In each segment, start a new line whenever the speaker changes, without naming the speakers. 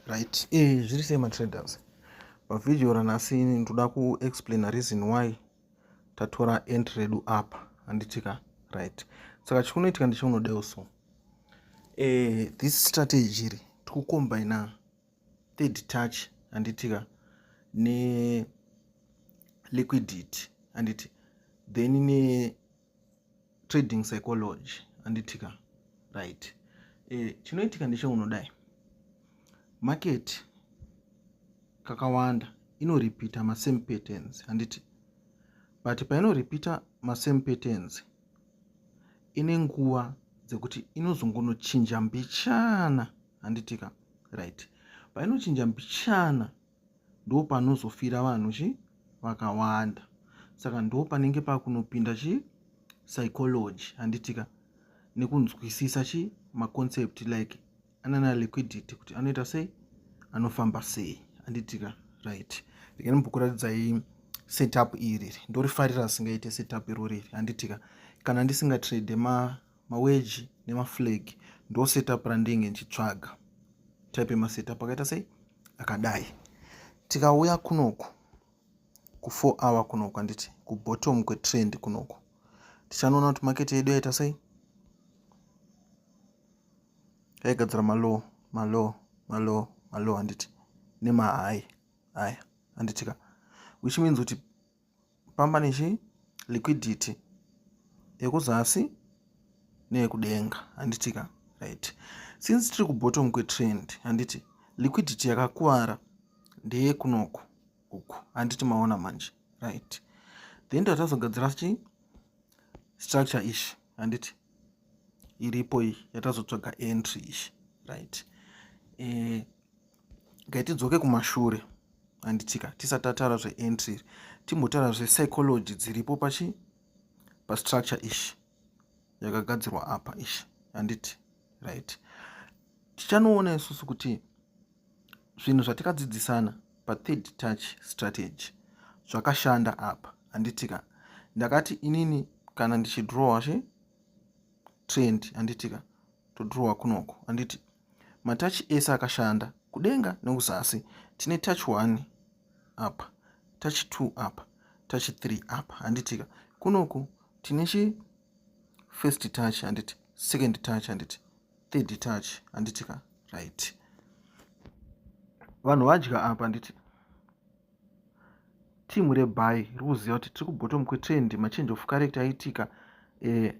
right eh zviri sei matraders pavhidhiyo ranhasi ndoda kuexplaina reason why tatora end redu apa handitika right saka chikunoitika ndichaunodeo so eh this strategy iri tikukombaina third touch handitika ne liquidity handiti then ne trading psychology anditika right e, chinoitika ndecheunodai market kakawanda inoripita masame patterns handiti but painoripita masame patterns ine nguva dzekuti inozongonochinja mbichana handitika right painochinja mbichana ndo panozofira vanhu chi vakawanda saka ndo panenge pakunopinda chi psychology handitika nekunzwisisa chi maconcept like anana liquidity kuti anoita sei anofamba sei handitika right regai mbokuratidzai setup iri ndorifarira singaite setup irori iri handitika kana ndisingatrade ma maweji nemaflag ndo setup randenge ndichitsvaga type yemasetup akaita sei akadai tikauya kunoku kufour hour kunoku anditi kubottom kwetrend kunoku tichanoona kuti maketi yedu yaita sei yaigadzira malow malow malow malow handiti nemahai aya handitika which means kuti pamba nechi liquidity yekuzasi neyekudenga handiti ka right since tiri kubottom kwetrend handiti liquidity yakakuvara ndeyekunoko uku handiti maona manje right then tatazogadzira chi structure ishi handiti iripo iyi yatazotsvaga entry ishi right e, ngaitidzoke kumashure anditika tisati tataura zveentry timbotaura zvepsychology dziripo pachi pastructure ishi yakagadzirwa apa ishi handiti right tichanoona isusu kuti zvinhu zvatikadzidzisana pathird touch strategy zvakashanda apa handitika ndakati inini kana ndichidrowa zve trend handitika todrowa kunoko handiti matachi ese akashanda kudenga nekuzasi tine tachi 1 apa tachi 2 apa tachi 3 apa handitika kunoku tine chi first touch handiti second touch handiti third touch handitika right vanhu vadya apa handiti team rebhayi riri kuziva kuti tiri kubottom kwetrend machange of character aiitika eh,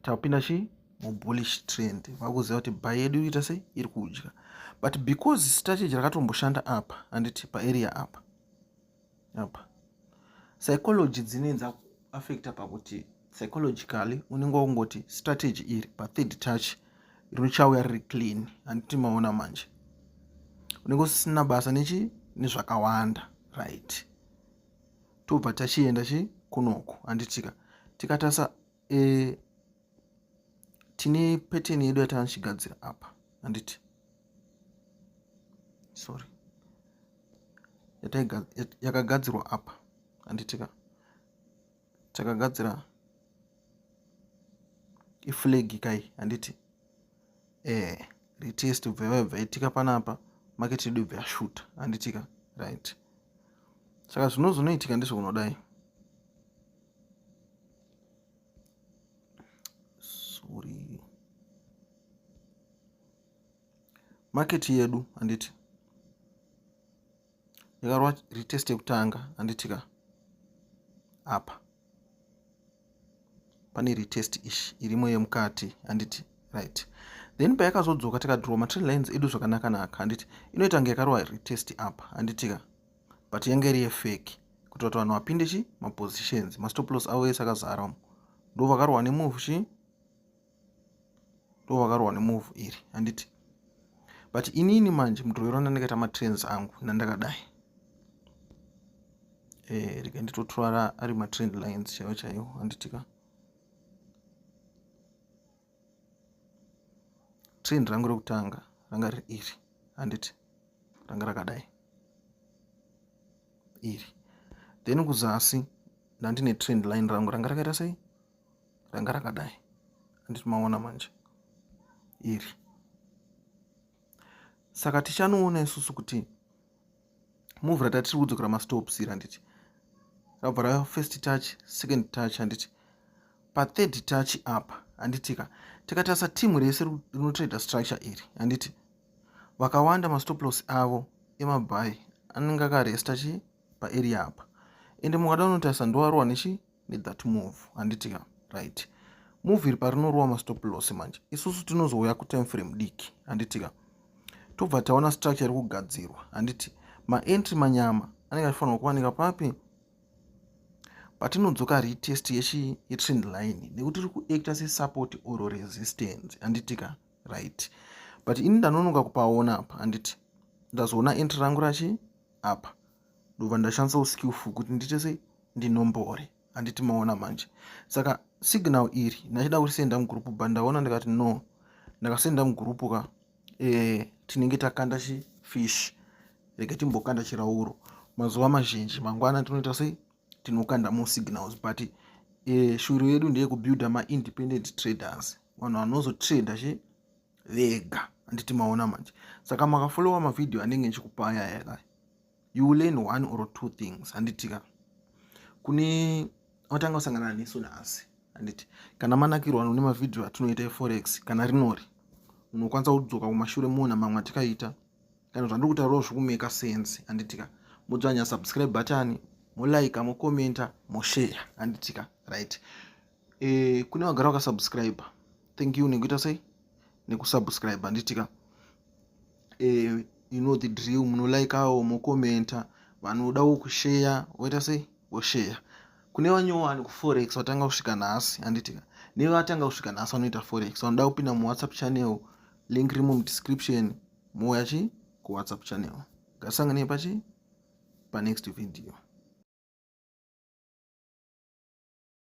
tapinda chi mubullish trend vakuziva kuti bhayi yedu iriita sei iri kudya but because strategy rakatomboshanda apa handiti paarea apa apa psychology dzinenza affecta pakuti psychologically unenge wakungoti strategy iri pathird touch richauya riri clean handiti maona manje unenge usisina basa nechi nezvakawanda right tobva tachienda chi kunoku handitika tikatasa e, tine peteni yedu yatanochigadzira apa handiti sorry yakagadzirwa apa handitika takagadzira iflag kai handiti eh retest ubva yabva itika panapa market yedu ibva yashuta handitika right saka zvino zvinoitika ndizvo kunodai sorry market yedu handiti yakarwa retest yekutanga handiti ka apa pane retest ishi irimo yemukati handiti right then payakazodzoka tikadraw matrend lines edu zvakanaka naka handiti inoita kunge yakarwa retest apa handiti ka but yange iri yefeki kuitira kuti vanhu vapinde chi mapositions mastoplos avo ese akazara umo ndo vakarwa nemove chi ndo vakarohwa nemove iri handiti but inini manje mudrovero ndandakaita matrans angu nandakadai e, eh, rika nditotora ari matrend lines chaiwo chaiwo handitika trend rangu rekutanga ranga riri iri handiti ranga rakadai iri then kuzasi ndandine trend line rangu ranga rakaita sei ranga rakadai anditi maona manje iri saka tichanoona isusu kuti move ratatiri kudzokera mastops iri handiti rabva rava first touch second touch handiti pathird touch apa handitika tikatarisa timu rese rinotraida structure iri handiti vakawanda mastoplos avo emabhayi anenge akaresta chi paarea apa ende mukada unotarisa ndowarowa nechi with that move handiti ka right move iri parinorova mastop loss manje isusu tinozouya kutime frame diki handiti ka tobva taona structure iri kugadzirwa handiti maentry manyama anenge achifanirwa kuwanika papi patinodzoka retest yechi yetrend line nekuti iri kuacta sesupport or resistance handiti ka right but ini ndanonoka kupaona apa handiti ndazoona entry rangu rachi apa ndobva ndashandisa uskillful kuti ndiite sei ndinombore handiti maona manje saka signal iri ndachida kurisenda mugroup but ndaona ndikati no ndakasenda mugroup ka e, tinenge takanda chifish reke timbokanda chirauro mazuva mazhinji mangwana tinoita sei tinokanda more signals but e, shuru yedu ndeyekubuilda maindependent traders vanhu vanozotrader chi vega handiti maona manje saka makafollowa mavhidhiyo anenge ndichikupa aya yaka you will learn one or two things handitika kune watanga kusangana nesu nhasi handiti kana manakirwa none mavhidhiyo atinoita eforex kana rinori unokwanisa kudzoka kumashure moona mamwe atikaita kana zvandiri kutaurawo zvikumeka sense handitika modzvanya subscribe button molaika mokomenta moshare handitika right e, kune vagara vakasubscribe thank you nekuita sei nekusubscribe handitika e, eh, you know the drill munolaikawo mokomenta vanodawo kusheya voita sei vosheya kune vanyowani kuforex vatanga kusvika nhasi handitika nevatanga kusvika nhasi vanoita forex vanoda kupinda muwhatsapp channel link rimo mudescription mouya chi kuwhatsapp channel ngasanganei pachi panext video